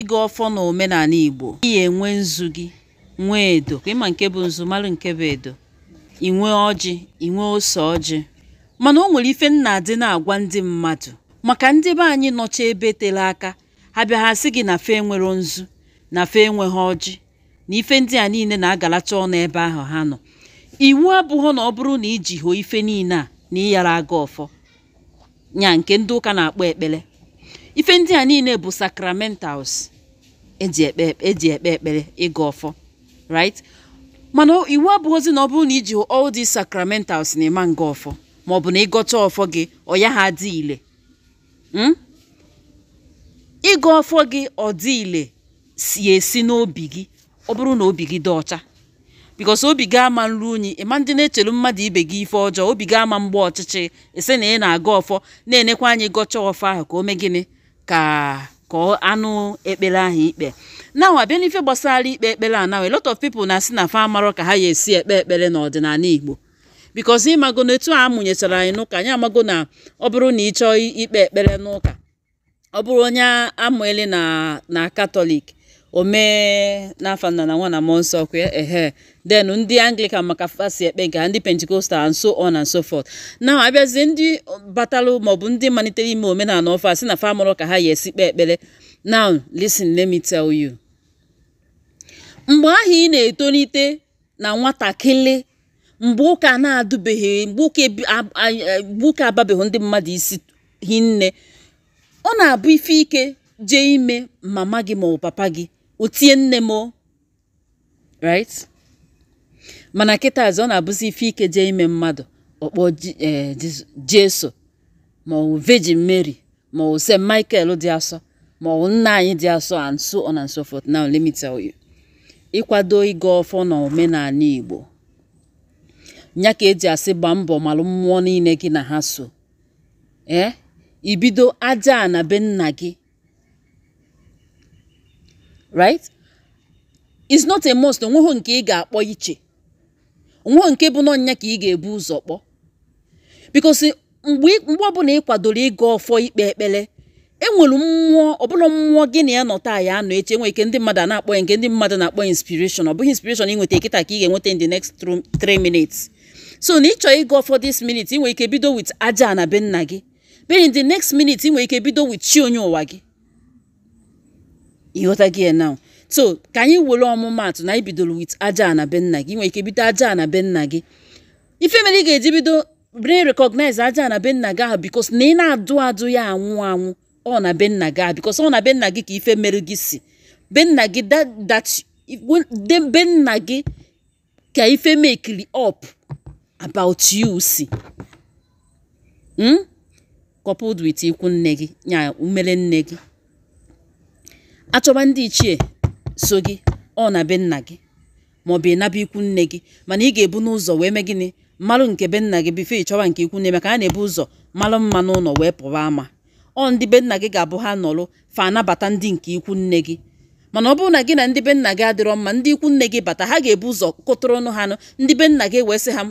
ịgọ ọfọ na omenala Igbo ị ya-enwe nzu gị nwee edo ka ị ma nke bụ nzu mara nke bụ edo ị nwee ọjị ị nwee ose ọjị mana o nwere ife m na-adị na-agwa ndị mmadụ maka ndị be anyị nọcha ebe tere aka ha bịa ha sị gị na fa enwerọ nzu na fa enweghị ọjị na ife ndị a niile na-agalacha ọnụ ebe ahụ ha nọ iwu abụghị na ọ bụrụ na i jihọ ife niile a na ị yara agọ ọfọ nya nke ndị ụka na-akpọ ekpere ife ndị a niile bụ sacramentals e ji ekpe ekpere ịgọ ọfọ right mana iwu abụghịzi na ọ bụrụ na i jihọ all these sacramentals na ị ma ngọ ọfọ ma ọ bụ na ị gọcha ọfọ gị ọ yaha adị ile hmm? ịgọ ọfọ gị ọ dị ile si esi n'obi gị ọ bụrụ na obi gị dị ọcha because obi gị ama nru unyi ị ma ndị na-echelu mmadụ ibe gị ife ọjọọ obi gị ama mgba ọchịchị so na ị na-agọ ọfọ na-enekwa anya ị gọcha ọfọ ahụ ka o mee gịnị ka ka a nụ ekpere ahụ i kpe na a bịa n'ife gbasara ikpe ekpere a now a lot of people na-asị na fa amarọ ka ha ya-esi ekpe ekpere n'ọdịnala Igbo because ị mago na etu a mụnyechara anyị n'ụka anyị amago na ọ bụrụ na ị chọọ ikpe ekpere n'ụka ọ bụrụ onye a mụnyeli na katọlik o mee n'afa nna na nwa na mmụọ nsọ kwa ehe then ndị anglican ma ka fa si ekpe nke ha ndị Pentecostal and so on and so forth na a bịazie ndị batalụ maọbụ ndị malitere ime omenala ọfụụ asị na fa amarọ ka ha ya-esi kpee ekpere now listen let me tell you mgbe ahụ ị na-etolite na nwatakịrị mgbe ụka na-adụbeghị mgbe ụka ababeghị ndị mmadụ isi hinne ọ na-abụ ife ike jee ime mama gị ma ọ papa gị o tie nne m o right mana kịtazi ọ na-abụzi ife ike jee ime mmadụ ọ kpọọ eh, Jesu ma ọ Virgin Mary ma ọ St. Michael dị asọ ma ọ nna anyị dị asọ and so on and so forth now let me tell you ị kwado ịgọ ọfọ na omenala Igbo ya ka e ji asị gbaa mbọ malụ mmụọ niile gị na ha so ee eh? ibido Ajana be nna gị right it's not a must o nweghị nke ị ga-akpọ iche o nweghị nke bụ na ọ nya ka ị ga-ebu ụzọ kpọ because mgbe ọbụla ị kwadoro ịgọ ọfọ ikpe ekpere e nwere mmụọ ọbụla mmụọ gị na ya nọ taa ya anọ eche nwere ike ndị mmadụ na-akpọ ya nke ndị mmadụ na-akpọ ya inspiration ọ bụghị inspiration ị nweta kịta ka ị ga-enweta in the next 3 minutes so na ị chọọ ịgọ ọfọ this minute ị nwere ike bido with Ajana be nna gị then in the next minute ị nwere ike bido with chi onye ụwa gị ị ghọtago ya now so ka anyị were ọmụmaatụ na i bidoro with aja ana be nna gị nwere ike bido aja ana be nna gị ife mere ị ga-eji bido bring recognize aja ana be nna gị ahụ because na ị na-adụ adụ ya anwụ anwụ ọ na be nna gị ahụ because ọ na be nna gị ka ife mere gị si be nna gị that be nna gị ka ife mekiri up about you si hmm? coupled with ikwu nne gị ya umere nne gị achọba ndị ichie so gị ọ na be nna gị maọbụ ị naba ikwu nne gị mana ị ga-ebu ụzọ wee mee gịnị malụ nke be nna gị before ị chọba nke ikwu nne maka a na-ebu ụzọ malụ mma n'ụnọ wee pụwa ama ọ ndị be nna gị ga-abụ ha nọrụ fa anabata ndị nke ikwu nne gị mana ọ bụrụ na gị na ndị be nna gị adịrọ mma ndị ikwu nne gị bata ha ga-ebu ụzọ kụtụrụ ọnụ ha nụ ndị be nna gị wee sị ha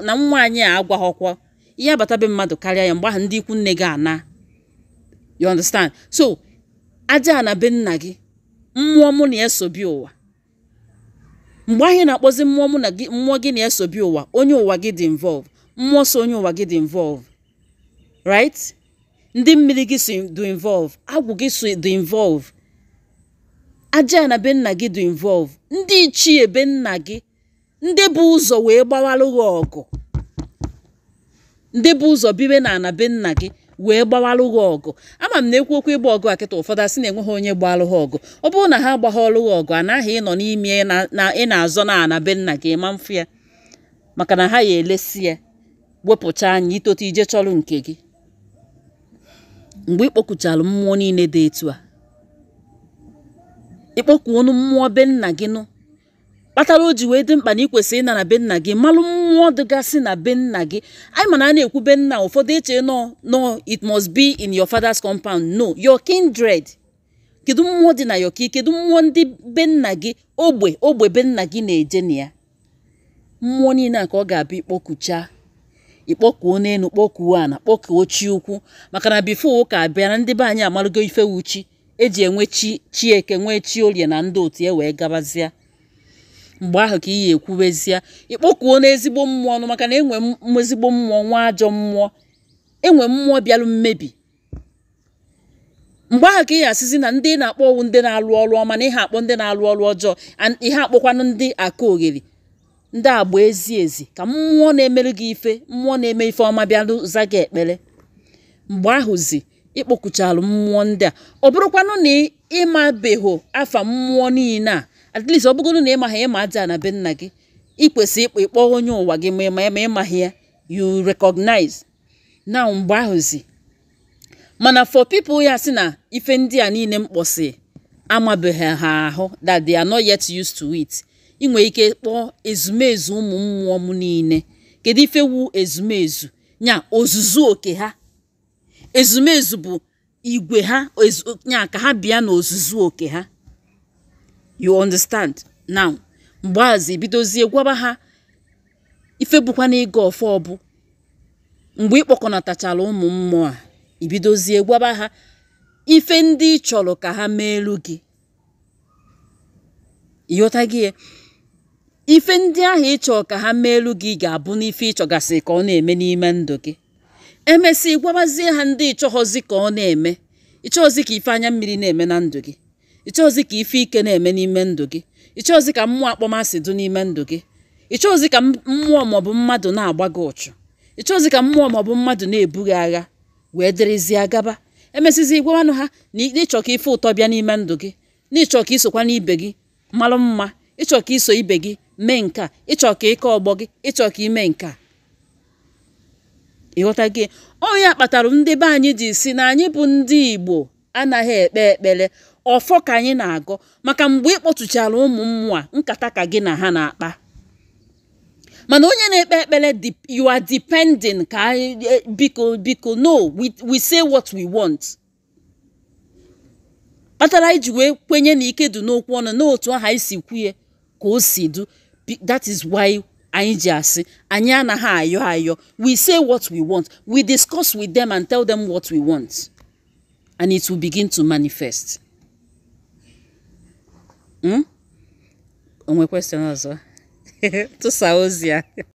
na nwa anyị a agwaghọkwa ihe abata be mmadụ karịa ya mgbe ahụ ndị ikwu nne gị ana you understand so aja ana be nna gị mmụọ mụ na ya so bịa ụwa mgbe ahụ ị na-akpọzi mmụọ gị na ya so bịa ụwa onye ụwa gị dị involve mmụọ so onye ụwa gị dị involve right ndị mmiri gị so dị involve agwụ gị so dị involve aja ana be nna gị dị involve ndị ichie be nna gị ndị bu ụzọ wee gbawalụ gị ọgụ ndị bu ụzọ biwe na ana be nna gị wee gbawalụ gị ọgụ ama m na ekwu okwu ịgba ọgụ kịta ụfọdụ asị na enweghị onye gbalụ ha ọgụ ọ bụrụ na ha agbaghọlụ gị ọgụ anaghị ịnọ n'ime na ị na-azọ na ana be nna gị ma mfụ ya maka na ha ya elesi ya wepụcha anya i tote i je chọrọ nke gị mgbe ị kpọkuchara mmụọ niile dị etu a ị kpọkuonụ mmụọ be nna gị nụ kpatara o ji wee dị mkpa na i kwesị ịna na be nna gị malụ mmụọ dịgasị na be nna gị anyị ma na a na-ekwu be nna ụfọdụ eche na na it must be in your father's compound no your kindred kedu mmụọ dị na ya okay kedu mmụọ ndị be nna gị ogbe ogbe be nna gị na-eje na ya mmụọ niile a ka ọ ga-abụ ị kpọkucha ị kpọkuonụ elu kpọkuo ana kpọkuo chi ukwu maka na before ụka abịa na ndị be anyị amalụgo ife wụ chi e ji enwe chi chi eke nwee chi orie na ndị otu ya e wee gabazịa mgbe ahụ ka ị ya-ekwubezie ị kpọkuonụ ezigbo mmụọ ọnụ maka na e nwee ezigbo mmụọ nwee ajọ mmụọ e nwee mmụọ bịalụ mmebi mgbe ahụ ka ị asịzi na ndị ị na-akpọ ọ wụ ndị na-alụ ọrụ ọma na ihe akpọ ndị na-alụ ọrụ ọjọọ ihe akpọkwanụ ndị akalogheri ndị agba ezi ezi ka mmụọ na-emere gị ife mmụọ na-eme ife ọma bịa za gị ekpere mgbe ahụzi ịkpọkuchalụ mmụọ ndị a ọ bụrụkwanụ na ịmabeghị afa mmụọ niile a at least ọ bụgoro na ịmaghị ịma ajana be nna gị ị kwesịrị ịkpọ ịkpọ onye ụwa gị ma ịma ya ma ịmaghị ya you recognize now mgbe ahụzi mana for people ya-asị na ife ndị a niile m kpọsị amabeghị ha ahụ that they are not yet used to it ị nwere ike kpọọ ezumezu ụmụ mmụọ m niile kedu ife wu ezumezu nya ozuzu oke ha ezumezu bụ igwe ha ya ka ha bịa n'ozuzu oke ha you understand now mgbe ahụzi bidozie gwaba ha ife bụkwanụ ịgọ ọfọ ọ bụ mgbe ịkpọkọnatachara ụmụ mmụọ a ibidozie gwaba ha ife ndị ị chọrọ ka ha meelu gị ịghọtago ya ife ndị ahụ ịchọ ka ha meelu gị ga-abụ n'ife ịchọgasị ka ọ na-eme n'ime ndụ gị emesịa ịgwabazie ha ndị ịchọghọzi ka ọ na-eme ịchọghọzi ka ife anya mmiri na-eme na ndụ gị ịchọghọzi ka ife ike na-eme n'ime ndụ gị ịchọghọzi ka mmụọ akpọmasị dụ n'ime ndụ gị ịchọghọzi ka mmụọ maọbụ mmadụ na-agba gị uchu ịchọghọzi ka mmụọ maọbụ mmadụ na-ebu gị agha wee dịrịzie gaba emesịzi ịgwawanụ ha na ịchọ ka ife ụtọ bịa n'ime ndụ gị na ịchọ ka isokwanụ ibe gị mara mma ịchọ ka iso ibe gị mee nke a ịchọ ka ịka ọgbọ gị ịchọ ka ime nke a ịghọtago ọ ya kpatara ndị be anyị ji sị na anyị bụ ndị Igbo anaghị ekpe ekpere ọfọ ka anyị na-agọ maka mgbe ị kpọtụchara ụmụ mmụọ nkata ka gị na ha na-akpa mana onye na-ekpe ekpere you are depending ka e, biko biko no we say what we want kpatara eji wee kwenye na ike dụ n'okwu ọnụ na otu aha isi kwuye ka o si dụ that is why anyị ji asị anyị anaghị ayọ ayọ we say what we want we discuss with them and tell them what we want and it will begin to manifest. Hmm? o nwe question ọzọ tụsa ozi a